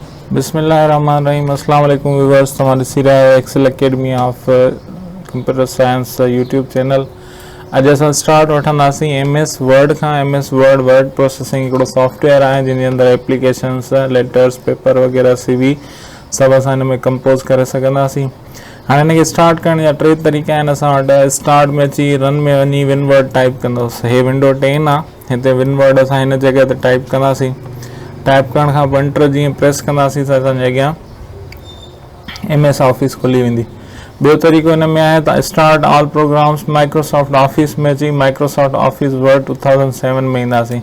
بسم الله الرحمٰن الرحيم اسلام عليڪم ويورس توهان ڏسي رهيا آهيو Excel academy of computer science YouTube channel اڄ اسان اسٽارٽ وٺنداسين ايم ايس ورڊ کان M S word word processing هڪڙو سافٽ ويئر آهي جن جي اندر ايپليڪيشنس ليٽرس پيپر وغيرہ سي وي سڀ اسان هن ۾ ڪمپوز ڪري سگهنداسين هاڻي هن کي اسٽارٽ ڪرڻ جا ٽي طريقا آهن اسان وٽ اسٽارٽ ۾ اچي رن ۾ وڃي ون ورڊ ٽائپ ڪندوس هي ونڊو ٽين آهي هتي ون ورڊ اسان هن جڳهه تي ٽائپ ڪنداسين ٽائپ ڪرڻ کان پوء انٽر جيئن پريس ڪنداسين ته اسانجي اڳيان ايم ايس آفيس کلي ويندي ٻيو طريقو هن ۾ آهي ته start all programs Microsoft office ۾ اچي Microsoft office word two thousand seven ۾ اينداسين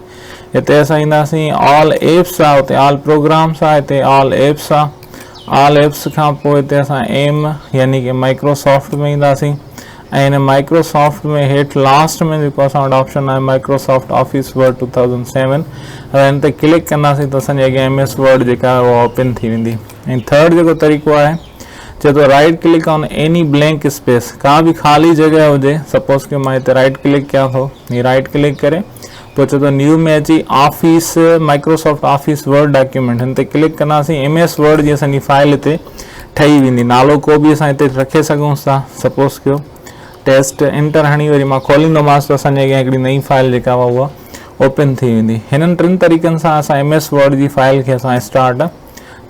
هتي اسان اينداسين آل ايپس آ هتي آل پروگرامس آ هتي آل ايپس آ آل ايپس کان پوء هتي اسان ايم يعني ڪي مائڪروسافٽ ۾ اينداسين ۽ هن مائڪرو سافٽ ۾ هيٺ لاسٽ ۾ جيڪو اسان وٽ آپشن آهي Microsoft office word two thousand seven اگر هن تي ڪلڪ ڪنداسين ته اسان جي اڳيان ايم ايس ورڊ جيڪا آهي اها اوپن ٿي ويندي ۽ ٿرڊ جيڪو طريقو آهي چئي ٿو right click on any blank space ڪا به خالي جڳهه هجي سپوز ڪيو مان هتي رائيٽ ڪلڪ ڪيان ٿو هي رائيٽ ڪلڪ ڪري پوء چئو ته نيو ۾ اچي office Microsoft office word document هن تي ڪلڪ ڪنداسين ايم ايس ورڊ جي اسان جي فائل هتي ٺهي ويندي نالو ڪو به اسان هتي رکي سگهون ٿا سپوز ڪيو ٽيسٽ انٽر هڻي وري مان کوليندومانس ته اسان جي اڳيان هڪڙي نئين فائل جيڪا هوا اها اوپن ٿي ويندي هنن ٽن طريقن سان اسان ايم ايس ورڊ جي فائل کي اسان اسٽارٽ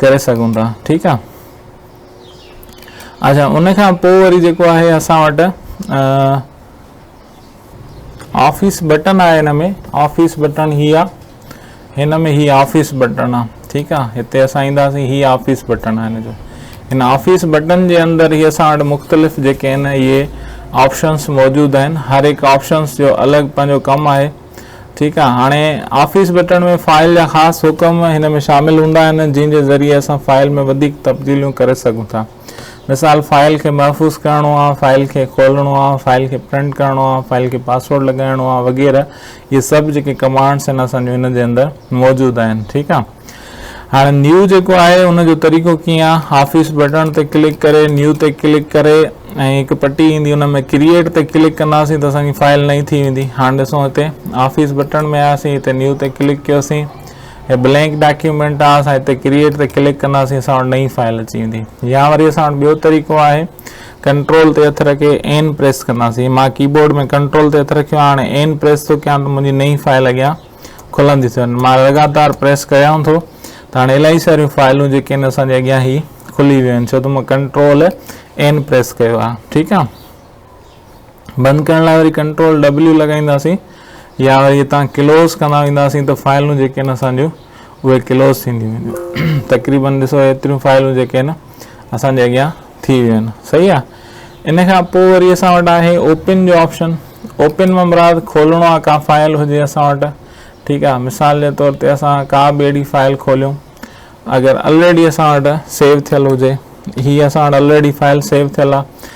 ڪري سگهون ٿا ٺيڪ آهي اچھا ان کان پوء وري جيڪو آهي اسان وٽ آفيس بٽن آهي هن ۾ آفيس بٽن هي آ هن ۾ هي آفيس بٽن آ ٺيڪ آ هتي اسان اينداسين هي آفيس بٽن آ هن جو هن آفيس بٽن جي اندر هي اسان وٽ مختلف جيڪي آهن اهي آپشنس موجود آهن هر هڪ آپشنس جو الڳ پنهنجو ڪم آهي ٺيڪ آ هاڻي آفيس بٽن ۾ فائل جا خاص حڪم هن ۾ شامل هوندا آهن جن جي ذريعي اسان فائل ۾ وڌيڪ تبديليون ڪري سگهون ٿا مثال، فائل کي محفوظ ڪرڻو آ، فائل کي کولڻو آ، فائل کي پرنٽ ڪرڻو آ، فائل کي پاسورڊ لڳائڻو آ وغيره اهي سڀ جيڪي ڪمانڊس آهن اسان جون ان جي اندر موجود آهن ٺيڪ آ هاڻي نيو جيڪو آهي ان جو طريقو ڪيئن آ آفيس بٽڻ تي ڪلڪ ڪري نيو تي ڪلڪ ڪري ۽ هڪ پٽي ايندي ان ۾ ڪريئيٽ تي ڪلڪ ڪنداسين ته اسان جي فائل نئين ٿي ويندي هاڻي ڏسون هتي آفيس بٽڻ ۾ آياسين هتي نيو تي ڪلڪ ڪيوسين هي بلينڪ ڊاڪيومينٽ آ اسان هتي ڪريئيٽ تي ڪلڪ ڪنداسين اسان وٽ نئين فائل اچي ويندي يا وري اسان وٽ ٻيو طريقو آهي ڪنٽرول تي هٿ رکي اين پريس ڪنداسين مان ڪيبورڊ ۾ ڪنٽرول تي هٿ رکيو هاڻ اين پريس ٿو ڪيان ته منهنجي نئين فائل اڳيان کلندي ٿي وڃي مان لڳاتار پريس ڪيان ٿو ته هاڻي الائي ساريون فائلون جيڪي آهن اسان جي اڳيان هي کلي ويون آهن ڇو ته مان ڪنٽرول اين پريس ڪيو آهي ٺيڪ آهي بند ڪرڻ لاء وري ڪنٽرول W لڳائينداسين يا وري هتان ڪلوز ڪندا وينداسين ته فائلون جيڪي آهن اسان جون اهي ڪلوز ٿينديون وينديون تقريبن ڏسو ايتريون فائلون جيڪي آهن اسان جي اڳيان ٿي ويون آهن صحيح آهي ان کان پوء وري اسان وٽ آهي اوپن جو آپشن اوپن مان مراد کولڻو آهي کا فائل هجي اسان وٽ ٺيڪ آهي مثال جي طور تي اسان کا به اهڙي فائل کوليون اگر الريڊي اسان وٽ سيو ٿيل هجي هي اسان وٽ الريڊي فائل سيو ٿيل آهي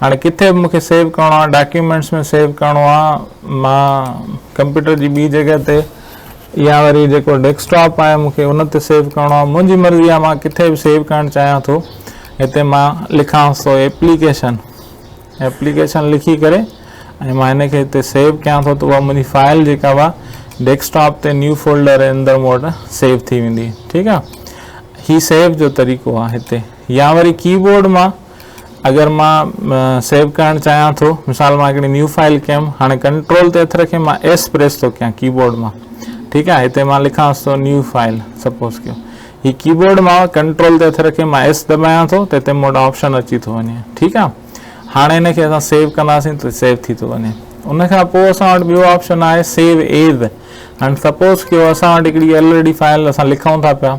هاڻي ڪٿي به مون کي سيو ڪرڻو آهي ڊاڪيومينٽس ۾ سيو ڪرڻو آهي مان ڪمپيوٽر جي ٻي جڳهه تي يا وري جيڪو ڊيسڪٽاپ آهي مون کي ان تي سيو ڪرڻو آهي منهنجي مرضي آهي مان ڪٿي به سيو ڪرڻ چاهيان ٿو هتي مان لکانس ٿو ايپليڪيشن ايپليڪيشن لکي ڪري ۽ مان هن کي هتي سيو ڪيان ٿو ته اها منهنجي فائل جيڪا هوا ڊيسڪٽاپ تي نيو فولڊر اندر مون وٽ سيو ٿي ويندي ٺيڪ آهي هي سيو جو طريقو آهي هتي يا وري ڪيبورڊ مان اگر مان سيو ڪرڻ چاهيان ٿو مثال مان هڪڙي نيو فائل ڪيم هاڻي ڪنٽرول تي هٿ رکي مان ايس پريس ٿو ڪيان ڪيبورڊ مان ٺيڪ آهي هتي مان لکانس ٿو نيو فائل سپوز ڪيو هي ڪيبورڊ مان ڪنٽرول تي هٿ رکي مان ايس دٻايان ٿو ته هتي موٽ آپشن اچي ٿو وڃي ٺيڪ آهي هاڻي هن کي اسان سيو ڪنداسين ته سيو ٿي ٿو وڃي ان کان پوء اسان وٽ ٻيو آپشن آهي سيو ايز هاڻي سپوز ڪيو اسان وٽ هڪڙي ايل ڊي فائل اسان لکون ٿا پيا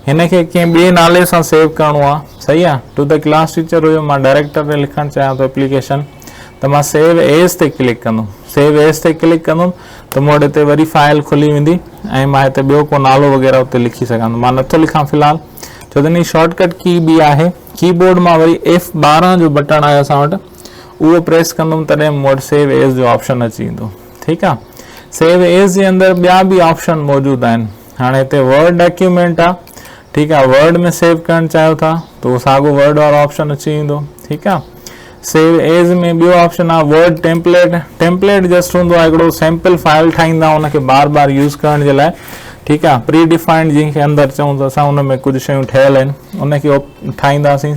هن کي ڪنهن ٻئي نالي سان سيو ڪرڻو آ صحيح آ تو ته ڪلاس ٽيچر هيو مان ڊائريڪٽر ڏي لکڻ چاهيان ٿو اپليڪيشن ته مان سيو ايز تي ڪلڪ ڪندم سيو ايز تي ڪلڪ ڪندم ته مون وٽ هتي وري فائل کلي ويندي ۽ مان هتي ٻيو ڪو نالو وغيره اتي لکي سگهندم مان نٿو لکان في الحال ڇو ته هن شارٽ ڪٽ ڪي به آهي ڪي بورڊ مان وري ايف ٻارهن جو بٽڻ آهي اسان وٽ اهو پريس ڪندم تڏهن مون وٽ سيو ايز جو آپشن اچي ويندو ٺيڪ آ سيو ايز جي اندر ٻيا به آپشن موجود آهن هاڻي هتي ورڊ ڊاڪيومينٽ آ ٺيڪ آ ورڊ ۾ سيو ڪرڻ چاهيو ٿا تو ساڳو ورڊ وارو آپشن اچي ويندو ٺيڪ آ سيو ايز ۾ ٻيو آپشن آ ورڊ ٽيمپليٽ ٽيمپليٽ جسٽ هوندو آ هڪڙو سيمپل فائل ٺاهيندا ان کي بار بار يوز ڪرڻ جي لاء ٺيڪ آ پري ڊيفائنڊ جنهن کي اندر چئون ته اسان ان ۾ ڪجهه شيون ٺهيل آهن ان کي ٺاهينداسين